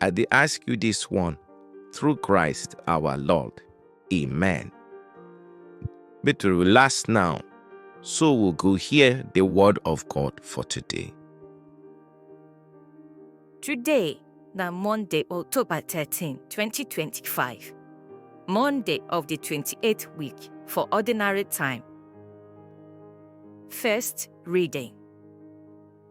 I dey ask you this one through Christ our Lord. Amen. Make we relax now, so we go hear the word of God for today. Today na Monday, October 13, 2025. Monday of the 28th week for ordinary time. First reading.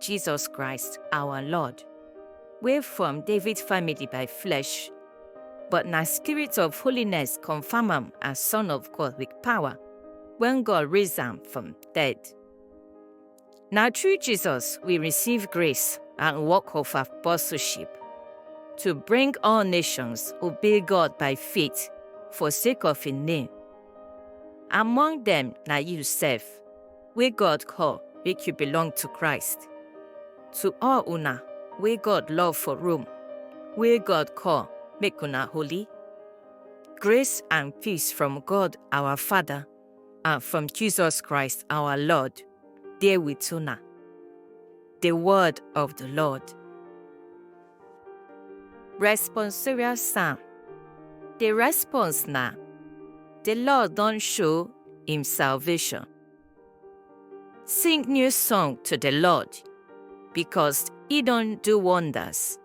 Jesus Christ, our Lord, wey from David family by flesh, but na spirit of holiness confirm am as Son of God with power when God raised am from dead. Na through Jesus we receive grace and work of apostleship to bring all nations obey God by faith for sake of him name. Among them na you sef. wey God call make you belong to Christ. To all una wey God love for Rome, wey God call make una holy. Grace and peace from God our Father and from Jesus Christ our Lord dey with una. The word of the Lord. Responsorial Psalm The response na The Lord don show im salvation. Sing new song to the Lord, because he don do wonders.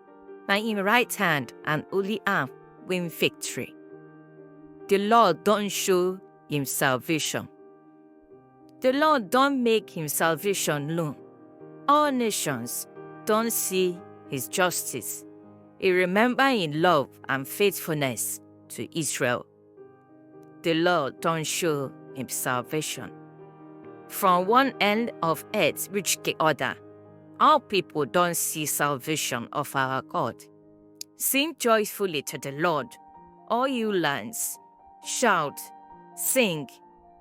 Na im right hand and holy arm win victory. The Lord don show im salvation. The Lord don make him salvation known. All nations don see his justice. He remember him love and faithfulness to Israel. The Lord don show him salvation. From one end of earth reach the other, all people don see salvation of our God. Sing joyfully to the Lord, all you lands. Shout, sing,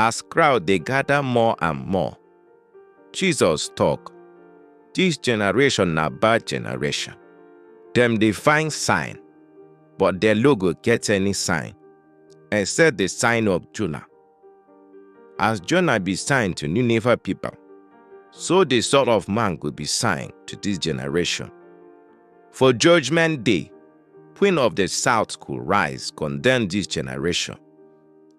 As crowd dey gather more and more, Jesus talk, This generation na bad generation. Dem dey find sign, but dem no go get any sign, except the sign of Jonah. As Jonah be sign to Nineveh people, so the Son of Man go be sign to this generation. For judgment day, queen of the south go rise, condemn this generation,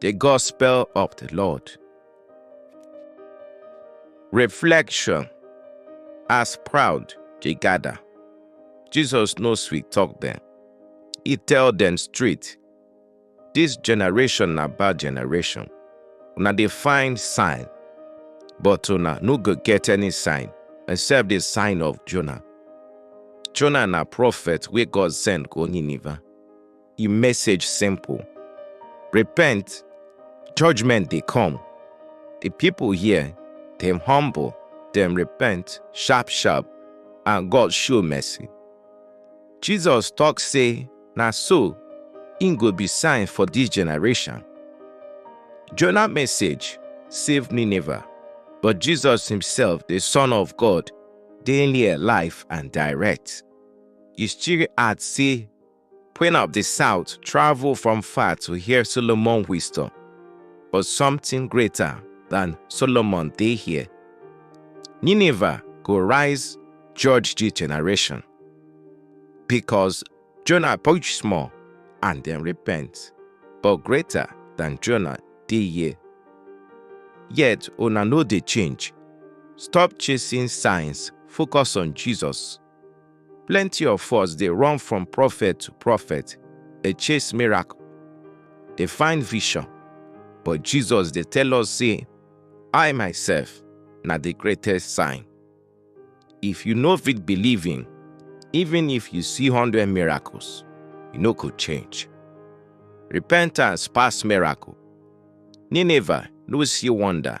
The Gospel of the Lord. Reflection As proud they gather, Jesus no sweet talk them. He tell them straight, This generation na bad generation. Una dey find sign, but una no go get any sign except the sign of Jonah. Jonah na prophet wey God send go Nineveh. e message simple. Repent, judgment dey come. The people here, dem humble, dem repent sharp sharp, and God show mercy. Jesus talk say na so im go be sign for this generation. Jonah message save Nineveh, but Jesus himself, the Son of God, dey near life and direct. E still add say Queen of the South traveled from far to hear Solomon's wisdom, but something greater than Solomon dey here. Nineveh go rise judge the generation, because Jonah preach small and then repent, but greater than Jonah dey here. Yet una no dey change. Stop chasing signs, focus on Jesus. Plenty of us dey run from prophet to prophet, dey chase miracle, dey find vision. But Jesus dey tell us say, I myself na the greatest sign. If you no fit believe in, even if you see hundred miracles, you no go change. Repentance pass miracle. Nineveh no see wonder,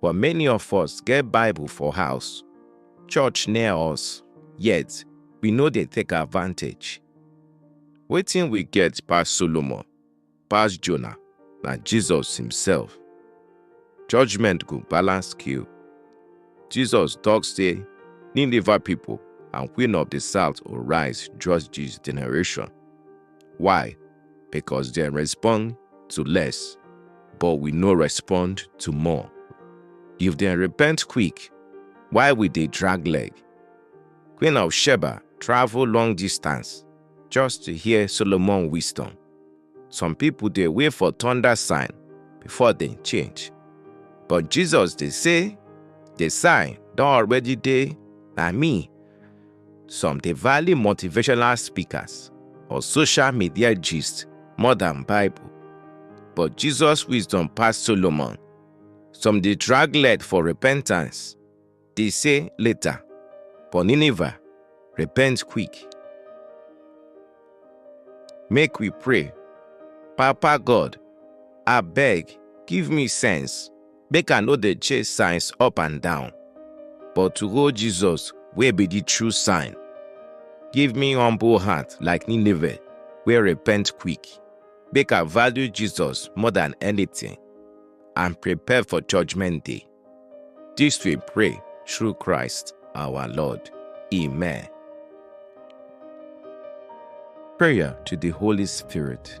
But many of us get Bible for house, church near us, yet we no dey take advantage. Wetin we get pass Solomon, pass Jonah, na Jesus himself. Judgment go balance scale. Jesus talk say Nineveh people and queen of the south will rise judge this generation. Why? Because they respond to less, but we no respond to more. If they repent quick, why we dey drag leg? Queen of Sheba travel long distance just to hear Solomon wisdom. Some people dey wait for thunder sign before dem change. But Jesus dey say, the sign don already dey, na me Some dey value motivational speakers or social media gist more than Bible. But Jesus wisdom pass Solomon. Some dey drag leg for repentance, dey say later, but Nineveh, repent quick. Make we pray. Papa God, abeg give me sense make I no dey chase signs up and down, but to hold Jesus wey be the true sign. Give me humble heart like Nineveh wey repent quick, make I value Jesus more than anything and prepare for judgment day. This we pray through Christ our Lord. Amen. Prayer to the Holy Spirit.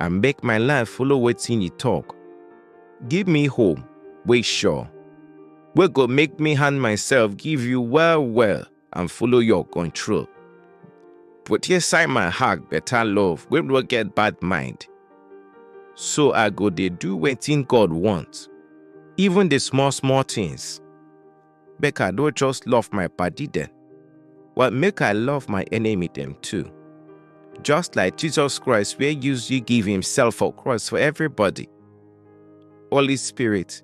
and make my life follow wetin you talk. Give me hope wey sure, wey go make me hand myself give you well well and follow your control. Put inside my heart better love wey no get bad mind. So I go dey do wetin God want, even the small small things. Make I no just love my padi dem, but make I love my enemy dem too. Just like Jesus Christ wey use you give himself for cross for everybody. Holy Spirit,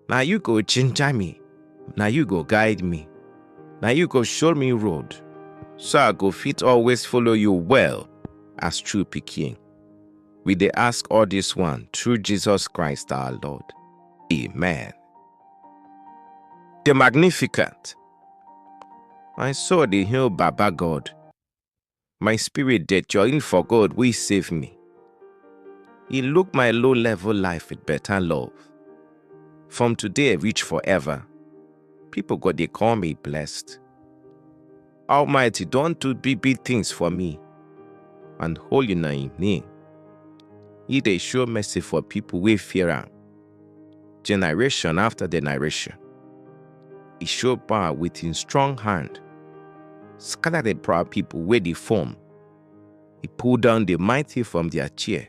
na you go ginger me, na you go guide me, na you go show me road, so I go fit always follow you well as true pikin. We dey ask all this one through Jesus Christ our Lord. Amen. The Magnificent. My soul dey hail Baba God. My spirit dey join for God wey save me. He look my low level life with better love. From today reach forever, people go dey call me blessed. Almighty don do big big things for me, and holy na im name. He dey show mercy for people wey fear am, generation after generation. He show power with him strong hand, scatter the proud people wey dey form. He pull down the mighty from their chair.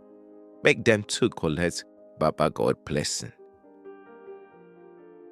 make dem too collect baba god blessing